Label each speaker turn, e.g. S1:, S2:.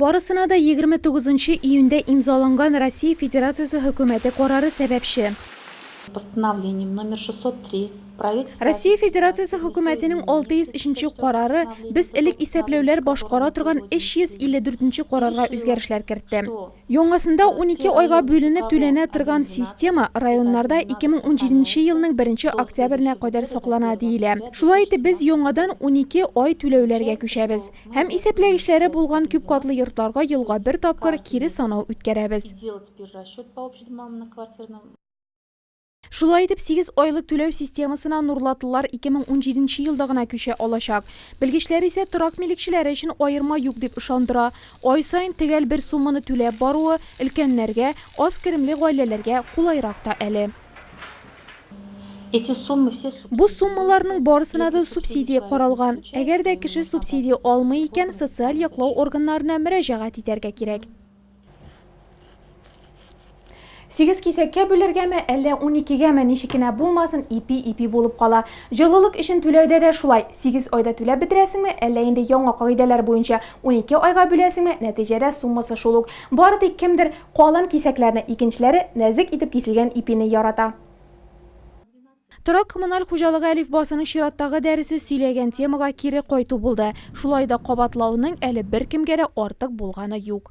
S1: Барысына да 29 июньдә имзаланган Россия Федерациясе Хөкүмәте карары сәбәпче. Постановлением
S2: номер 603 правительство... Россия Федерациясе
S1: Хөкүмәтенең 603 нче карары без элек исәпләүләр башкара торган 354 нче карарга үзгәрешләр кертте. Яңасында унике айга бүленеп түләнә торган система районнарда 2017 нче елның беренче октябренә кадәр саклана, диелә. Шулай итеп, без яңадан унике ай түләүләргә күчәбез. Һәм исәпләгечләре булган күпкатлы йортларга елга бер тапкыр кире санау үткәрәбез. Шулай итеп, сигез айлык түләү системасына нурлатлылар 2017 елда гына күчә алачак. Белгечләр исә торак милекчеләре өчен аерма юк дип ышандыра. Ай саен төгәл бер сумманы түләп баруы өлкәннәргә, аз керемле гаиләләргә кулайрак та әле.
S2: Бу суммаларның
S1: барысына да субсидия каралган. Әгәр дә кеше субсидия алмый икән, социаль яклау органнарына мөрәҗәгать итәргә кирәк. Сигез кисәккә бүлергәме, әллә уникегәме, ничек кенә булмасын, ипи-ипи булып кала. Җылылык өчен түләүдә дә шулай. Сигез айда түләп бетерәсеңме, әллә инде яңа кагыйдәләр буенча унике айга бүләсеңме, нәтиҗәдә суммасы шул ук. Бары тик кемдер калын кисәкләрне, икенчеләре нәзек итеп киселгән ипине ярата. Торак-коммуналь хуҗалыгы әлифбасының чираттагы дәресе сөйләгән темага кире кайту булды. Шулай да кабатлауның әле беркемгә дә артык булганы юк.